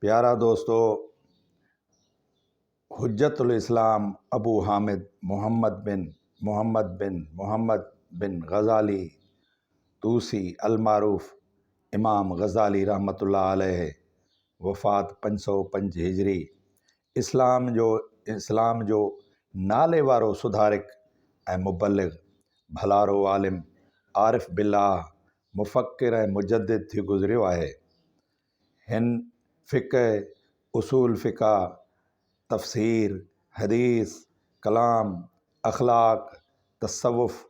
پيارا دوستو حجت الاسلام ابو حامد محمد بن محمد بن محمد بن غزالي طوسي المعروف امام غزالي رحمة الله عليه وفات پنج سؤ پنج هجري اسلام جو اسلام جو ناليوارو سڌارڪ ۽ مبلغ ڀلارو عالم عارف بالله مفڪر ۽ مجدد ٿي گذريو آهي هن فقه، اصول فقه، تفسير، حديث، ڪلام، اخلاق، تصوف،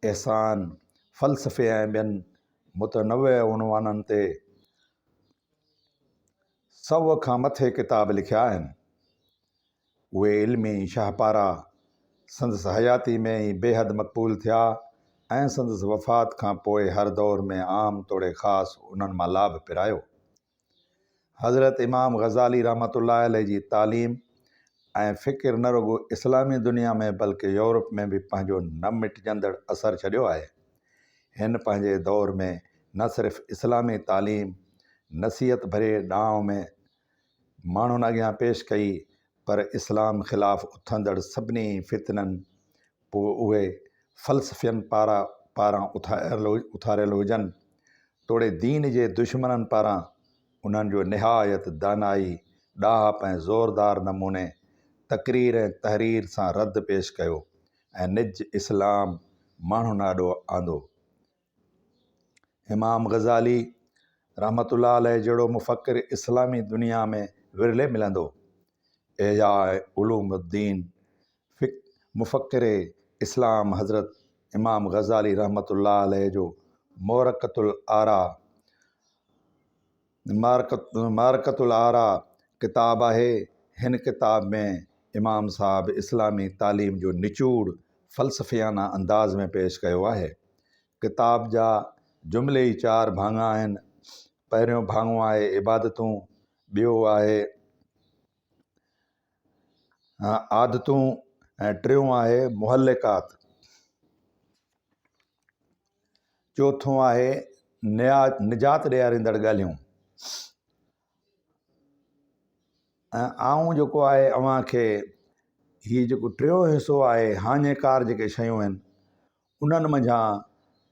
احسان، فلسفي ۽ ٻين متنوع عنوانن تي سؤ کان مٿي ڪتاب لکيا آهن. اهي علمي شاهپارا سندس حياتي ۾ ئي بيحد مقبول ٿيا ۽ سندس وفات کان پوء هر دور ۾ عام توڙي خاص انهن مان لاڀ پرايو. حضرت امام غزالي رحمة الله عليه جي تعليم ۽ فڪر نه رڳو اسلامي دنيا ۾ بلڪه يورپ ۾ به پنهنجو نه مٽجندڙ اثر ڇڏيو آهي. هن پنهنجي دور ۾ نه صرف اسلامي تعليم، نصيحت ڀرئي ڏانء ۾، ماڻهن اڳيان پيش ڪئي، پر اسلام خلاف اٿندڙ سڀني فتنن پوء اهي فلسفين پارا پاران اٿاريل هجن توڙي دين جي دشمنن پاران انهن جو نهايت دانائي، ڏاهپ ۽ زوردار نموني تقرير ۽ تحرير سان رد پيش ڪيو ۽ نج اسلام ماڻهن آڏو آندو. امام غزالي رحمة الله عليه جهڙو مفڪر اسلامي دنيا ۾ ورلي ملندو. احياء علوم الدين فڪ مفڪر اسلام حضرت امام غزالي رحمة الله عليه جو مورقة الآراء، معرڪة الارا ڪتاب آهي. هن ڪتاب ۾ امام صاحب اسلامي تعليم جو نچوڙ فلسفيانه انداز ۾ پيش ڪيو آهي. ڪتاب جا جملي ئي چار ڀاڱا آهن. پهريون ڀاڱو آهي عبادتون، ٻيو آهي. عادتون ۽ ٽيون آهي محلقات. چوٿون آهي نجات ڏياريندڙ ڳالهيون ۽ آئون جيڪو آهي اوهان کي هي جيڪو ٽيون حصو آهي هاڃي ڪار جيڪي شيون آهن انهن منجهان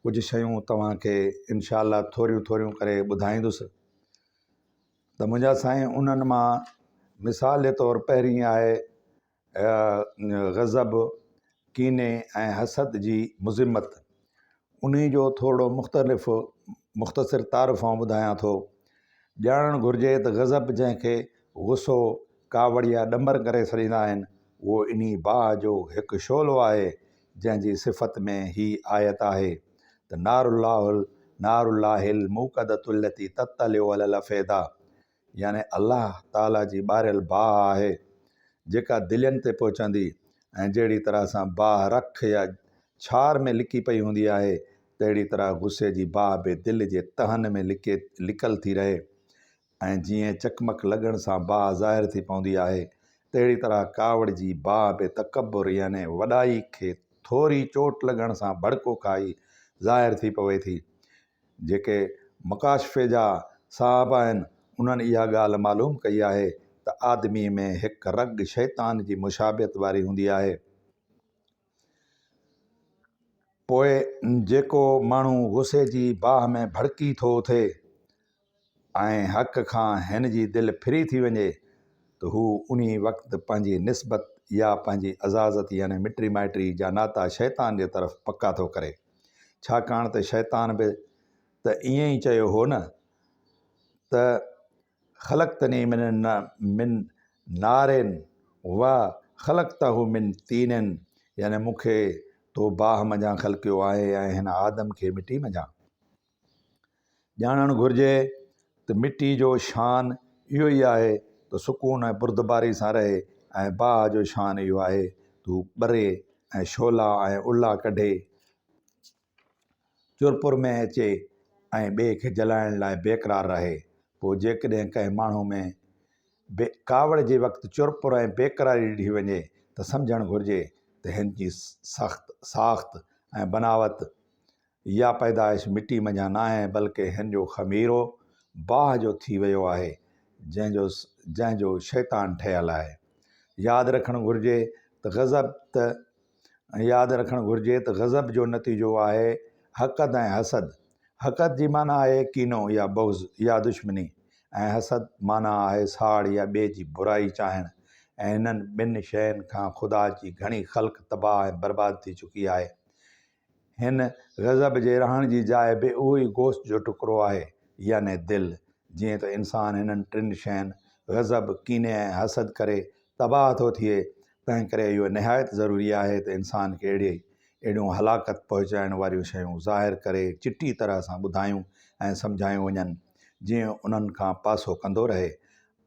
ڪجهه شيون توهان کي انشاء الله ٿوريون ٿوريون ڪري ٻڌائيندس ته منهنجا سائين انهن مان مثال جي طور پهرين آهي غضب ڪيني ۽ حسد جي مذمت انهي جو ٿورڙو مختلف مختصر تعارف آئون ٻڌايان ٿو ڄاڻڻ گهرجي ته غضب جنهن کي غصو ڪاوڙ يا ڏمر ڪري سڏيندا آهن اهو انهي باهه جو هڪ شعلو آهي جنهن جي صفت ۾ هي آيت آهي ته نار الله نار الله الموقدة التي تطلع علي الافئدة يعني الله تعاليٰ جي ٻاريل باهه آهي جيڪا دلين تي پهچندي ۽ جهڙي طرح سان باهه رک يا ڇار ۾ لڪي پئي هوندي آهي تهڙي طرح غصي جي باهه به دل جي تهن ۾ لڪي لڪل ٿي رهي ۽ جيئن چقمق لڳڻ سان باهه ظاهر ٿي پوندي آهي، تهڙي طرح ڪاوڙ جي باهه به تڪبر يعني وڏائي کي ٿوري چوٽ لڳڻ سان ڀڙڪو کائي ظاهر ٿي پوي ٿي. جيڪي مڪاشفي جا صاحب آهن، انهن اها ڳالهه معلوم ڪئي آهي ته آدميء ۾ هڪ رڳ شيطان جي مشابهت واري هوندي آهي. پوء جيڪو ماڻهو غصي جي باهه ۾ ڀڙڪي ٿو اٿي ۽ حق کان هن جي دل ڦري ٿي وڃي ته هو انهي وقت پنهنجي نسبت يا پنهنجي عزازت يعني مٽي مائٽي جا ناتا شيطان جي طرف پڪا ٿو ڪري ڇاڪاڻ ته شيطان به ته ائين ئي چيو هو نه ته خلقتني من من نار و خلقته من طين يعني مون کي تو باهه منجهان خلقيو آهي ۽ هن آدم کي مٽي منجهان ڄاڻڻ گهرجي ته مٽي جو شان اهو ئي آهي ته سڪون ۽ بردباري سان رهي ۽ باهه جو شان اهو آهي ته هو ٻري ۽ شعلا ۽ الا ڪڍي چرپر ۾ اچي ۽ ٻئي کي جلائڻ لاء بيقرار رهي. پوء جيڪڏهن ڪنهن ماڻهو ۾ به ڪاوڙ جي وقت چرپر ۽ بيقراري ڏٺي وڃي ته سمجهڻ گهرجي ته هن جي سخت ساخت ۽ بناوت يا پيدائش مٽي منجهان ناهي بلڪه هن جو خميرو باهه جو ٿي ويو آهي جنهن جو جنهن جو شيطان ٺهيل آهي. ياد رکڻ گهرجي ته غضب ته ۽ ياد رکڻ گهرجي ته غضب جو نتيجو آهي حقد ۽ حسد. حقد جي معنيٰ آهي ڪينو يا بغض يا دشمني ۽ حسد معنيٰ آهي ساڙ يا ٻئي جي برائي چاهڻ ۽ هنن ٻن شين کان خدا جي گهڻي خلق تباهه ۽ برباد ٿي چڪي آهي. هن غضب جي رهڻ جي جاء به اهو ئي گوشت جو ٽڪرو آهي يعني دل جيئن ته انسان هنن ٽن شين غضب، ڪيني ۽ حسد ڪري تباهه ٿو ٿئي، تنهن ڪري اهو نهايت ضروري آهي ته انسان کي اهڙي اهڙيون هلاڪت پهچائڻ واريون شيون ظاهر ڪري چٽي طرح سان ٻڌايون ۽ سمجهايون وڃن، جيئن انهن کان پاسو ڪندو رهي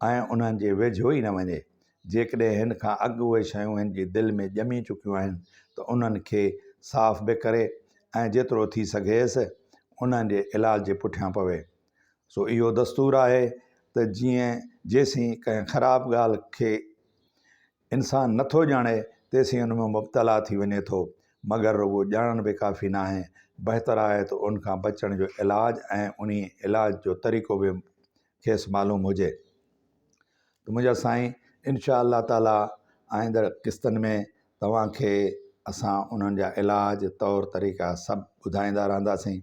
۽ انهن جي ويجهو ئي نه وڃي. جيڪڏهن هن کان اڳ اهي شيون هن جي دل ۾ ڄمي چڪيون آهن ته انهن کي صاف به ڪري ۽ جيترو ٿي سگهيس انهن جي علاج جي پٺيان پوي. سو اهو دستور آهي ته جيئن جيسين ڪنهن خراب ڳالهه کي انسان نٿو ڄاڻي تيسين ان ۾ مبتلا ٿي وڃي ٿو مگر رڳو ڄاڻڻ به ڪافي نه آهي بهتر آهي ته ان کان بچڻ جو علاج ۽ انهي علاج جو طريقو به کيس معلوم هجي ته منهنجا سائين انشاء الله تعاليٰ آئنده قسطن ۾ توهان کي اسان انهن جا علاج طور طريقا سڀ ٻڌائيندا رهنداسين